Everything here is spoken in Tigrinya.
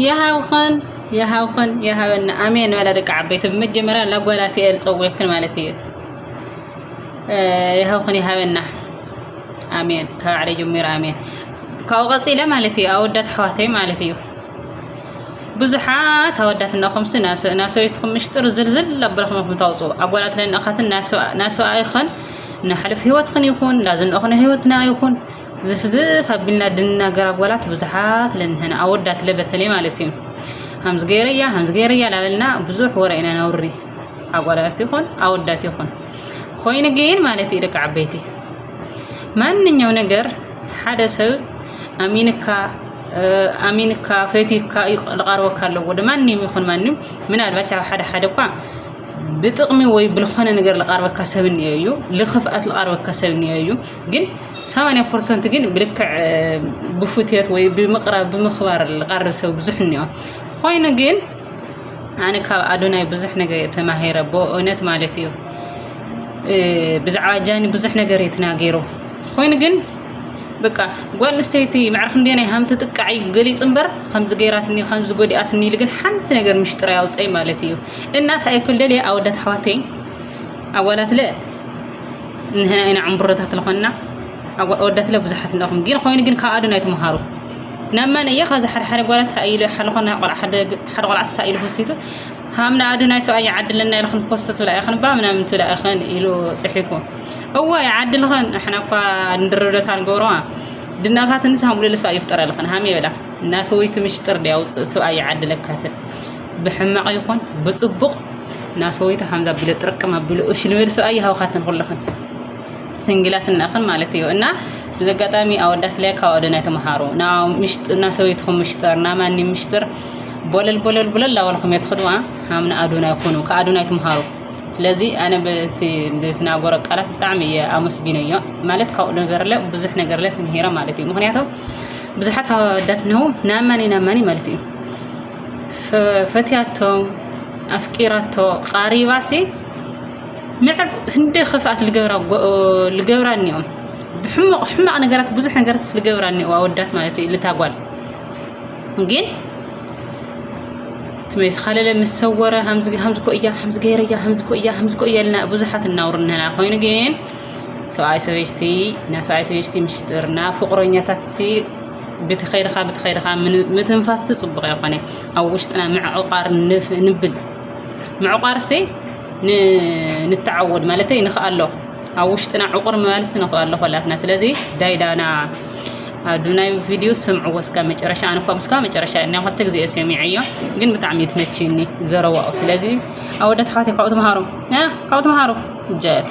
የሃብኽን የሃብኽን የሃበና ኣሜን በላ ደቂ ዓበይቲ ብመጀመርያ ላጓላት እየ ዝፀውየክን ማለት እዩ የሃብኽን የሃበና ኣሜን ካብ ባዕለይ ጀሚሩ ኣሜን ካብኡ ቀፂለ ማለት እዩ ኣወዳት ኣሕዋተይ ማለት እዩ ብዙሓት ኣወዳት እናኹምሲ ናሰበይትኹም ምሽጥር ዝልዝል ኣበልኹምኹም ታውፅኡ ኣጓላት ለንእኻትን ናሰብኣይኽን ንሓለፍ ህይወትኽን ይኹን ናዝንኦኽነ ህይወትና ይኹን ዝፍ ዝፍ ኣቢልና ድንናገር ኣጓላት ብዙሓት ለንህና ኣወዳት ለ በተለይ ማለት እዩ ሃምዚ ገይረያ ሃምዚ ገይረያ ላበልና ብዙሕ ወረ ኢና ነውሪ ኣጓላት ይኹን ኣወዳት ይኹን ኮይኑ ግን ማለት እዩ ደቂ ዓበይቲ ማንኛው ነገር ሓደ ሰብ ኣሚንካ ኣሚንካ ፈቲካ ዝቐርበካ ኣለዎ ማንም ይኹን ማንም ምናልባች ኣብ ሓደ ሓደ እኳ ብጥቕሚ ወይ ብዝኾነ ነገር ዝቐርበካ ሰብ እኒኦ እዩ ልኽፍኣት ዝቐርበካ ሰብ እኒኦ እዩ ግን ሰማንያ ፐርሰንት ግን ብልክዕ ብፉትት ወይ ብምቕራብ ብምኽባር ዝቐርብ ሰብ ብዙሕ እኒኦ ኮይኑ ግን ኣነ ካብ ኣዶናይ ብዙሕ ነገር እየ ተማሂረ ብእውነት ማለት እዩ ብዛዕባ ጃኒ ብዙሕ ነገር እዩ ተናገሩ ኮይኑ ግን በቃ ጓል ኣንስተይቲ መዕርክ እንዴናይ ሃም ትጥቃዕ እዩ ገሊፅ እምበር ከምዚ ገይራትኒ ከምዚ ጎዲኣትኒ ኢሉ ግን ሓንቲ ነገር ምሽጥር ኣውፀይ ማለት እዩ እናታ ኣይኩል ደልየ ኣወዳት ኣሕዋተይ ኣዋላት ለ ንሕና ኢና ዕምብሮታት ለኾንና ኣወዳት ለ ብዙሓት ኣለኹም ግን ኮይኑ ግን ካብ ኣዶና ይትምሃሩ ናብ መን እየ ካብዚ ሓደ ሓደ ጓላት ኢሉ ሓለኾና ቆልዓ ሓደ ቆልዓ ስታ ኢሉ ወሲቱ ሃምና ኣዶናይ ሰብኣይ ይዓድለና ኢልኽን ፖስት ትብላ ኢኽን ባ ምናምን ትብላ ኢኽን ኢሉ ፅሒፉ እዋ ይዓድልኽን ንሕና እኳ ንድርብደታ ንገብረዋ ድናኻ ትንስ ሃምቡለለ ሰብኣይ ይፍጠረልኽን ሃም የብላ እና ሰወይቲ ምሽጥር ድያ ውፅእ ሰብኣይ ይዓድለካትን ብሕማቕ ይኹን ብጽቡቕ ናሰወይተ ሃምዛ ቢለ ጥርቅም ኣቢሉ እሺ ልበል ሰብኣይ ይሃውካትን ኩለኽን ስንግላት እናኽን ማለት እዩ እና እዚ ኣጋጣሚ ኣወዳት ላይ ካብ ኣደ ናይ ተምሃሩ እና ሰበይትኹም ምሽጥር እና ማኒ ምሽጥር ቦለል ቦለል ቦለል ላበልኩም እየ ትኽድዋ ሃምና ኣዶና ይኹኑ ከኣዶና ይትምሃሩ ስለዚ ኣነ በቲ ዝትናገሮ ቃላት ብጣዕሚ እየ ኣመስጊነዮ ማለት ካብኡ ነገር ለ ብዙሕ ነገር ለ ትምሂረ ማለት እዩ ምክንያቱ ብዙሓት ኣወዳት ነው ናማኒ ናማኒ ማለት እዩ ፈትያቶም ኣፍቂራቶ ቃሪባሲ ምዕብ ህንዲ ክፍኣት ልገብራ እኒኦም ብሕሙቕ ሕማቕ ነገራት ብዙሕ ነገራት ልገብራ እኒኦ ኣወዳት ማለት እዩ ልታጓል ግን ትመይስ ካለለ ምስ ሰወረ ሃምዚ ኮ እያ ሃምዚ ገይረ እያ ሃምዚ ኮ እያ ሃምዚ ኮ እያ ልና ብዙሓት እናውርነና ኮይኑ ግን ሰብኣይ ሰበይቲ ናይ ሰብኣይ ሰበይቲ ምስጢርና ፍቕረኛታት ብቲ ከይድኻ ብቲ ከይድኻ ምትንፋስቲ ጽቡቕ ኣይኮነ ኣብ ውሽጥና ምዕቋር ንብል ምዕቋርሲ ንተዓወድ ማለተይ ንኽኣሎ ኣብ ውሽጥና ዕቑር ምባልሲ ንኽኣሎ ኮላትና ስለዚ ዳይዳና ኣዱናይ ቪድዮ ስምዕዎ እስከ መጨረሻ ኣነ እኳ ምስካ መጨረሻ ናይ ክልተ ግዜ ሰሚዐዮ ግን ብጣዕሚ እዩ ትመችኒ ዘረዋኡ ስለዚ ኣወዳት ኣሕዋተይ ካብኡ ተምሃሩ ካብኡ ተምሃሩ ጀት